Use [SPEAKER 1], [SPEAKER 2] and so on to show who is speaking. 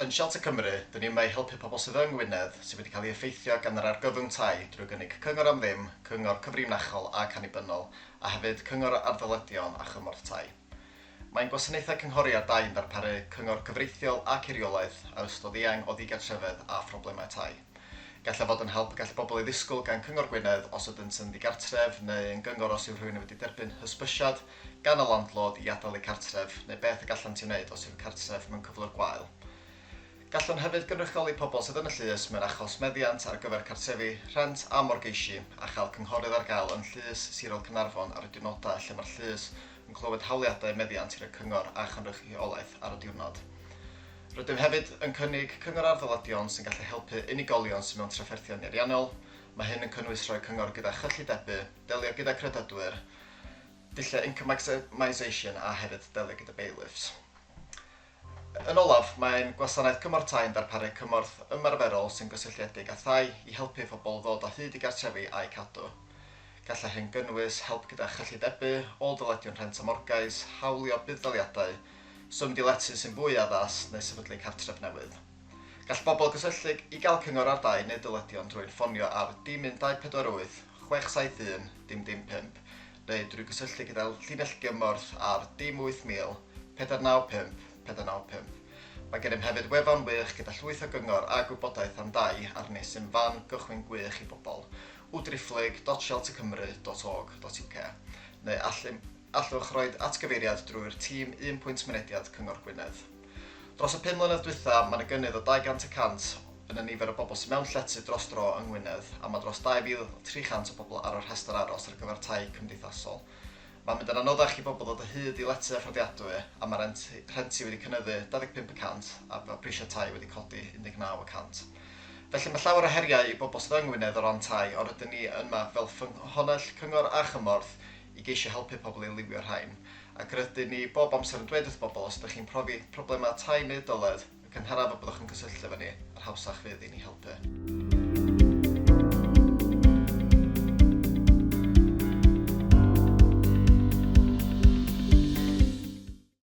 [SPEAKER 1] Yn Shelter Cymru, dyn ni yma i helpu pobl sydd yng Ngwynedd sydd wedi cael ei effeithio gan yr argyfwng tai drwy gynnig cyngor am ddim, cyngor cyfrinachol ac annibynnol, a hefyd cyngor ar ddyledion a chymorth tai. Mae'n gwasanaethau cynghori ar dai yn darparu cyngor cyfreithiol ac eiriolaeth ar ystod eang o ddigartrefedd a phroblemau tai. Gallai fod yn help y gall bobl ei ddisgwyl gan Cyngor Gwynedd os ydynt yn ddigartref neu yn gyngor os yw rhywun yn wedi derbyn hysbysiad gan y landlord i adael eu cartref neu beth y gallant ei wneud os yw'r cartref mewn cyflwr gwael. Gallwn hefyd gynrychioli pobl sydd yn y llys mewn achos meddiant ar gyfer cartrefi, rhent a morgeisi a chael cynghorydd ar gael yn Llys Sirol Caernarfon ar y diwrnodau lle mae'r llys yn clywed hawliadau meddiant gyda Cyngor a Chynrychiolaeth ar y diwrnod. Rydym hefyd yn cynnig cyngor ar ddyledion sy'n gallu helpu unigolion sydd mewn trafferthion nieriannol, mae hyn yn cynnwys rhoi cyngor gyda chyllidebu, delio gyda credydwyr, dulliau income maximisation a hefyd delio gyda bailiffs. Yn olaf, mae ein Gwasanaeth Cymorth Tai yn darparu cymorth ymarferol sy'n gysylltiedig â thai i helpu pobl ddod o hyd i gartrefi a'u cadw. Gallai hyn gynnwys help gyda chyllidebu, ôl-dyledion rhent a morgais, hawlio budd-daliadau, swm diletu sy'n fwy addas, neu sefydlu cartref newydd. Gall bobl gysylltu i gael cyngor ar dai neu dyledion drwy'n ffonio ar Dim Un Dau Pedwar Wyth 671-555 neu drwy gysylltu gyda'r llinell gymorth ar dim 8000 495 495. Mae gennym hefyd wefan wych gyda llwyth o gyngor a gwybodaeth am dai ar nes sy'n fan gychwyn gwych i bobl, www.realtorcymru.org.uk, neu allwch roid atgyfeiriad drwy'r tîm Un Pwynt Mynediad Cyngor Gwynedd. Dros y pum mlynedd dwytha, mae yna gynnydd o 200 y cant yn y nifer o bobl sydd mewn llety dros dro yng Ngwynedd a mae dros 2,300 o bobl ar y rhestr aros ar gyfer tai cymdeithasol. Mae'n mynd yn anoddach i bobl ddod o hyd i lety a fforddiadwy a mae rent rhenti wedi cynyddu 25 y cant a mae prisiau tai wedi codi 19 y cant. Felly mae llawer o heriau i bobl sydd yng Ngwynedd o ran tai ond rydyn ni yma fel ffynhonnell cyngor a chymorth i geisio helpu pobl i liwio'r rhain, ac rydyn ni bob amser yn dweud wrth bobl os ydych chi'n profi problemau tai neu oedoledd, y cynharaf y byddwch yn cysylltu efo ni, yr hawsach fydd i ni helpu.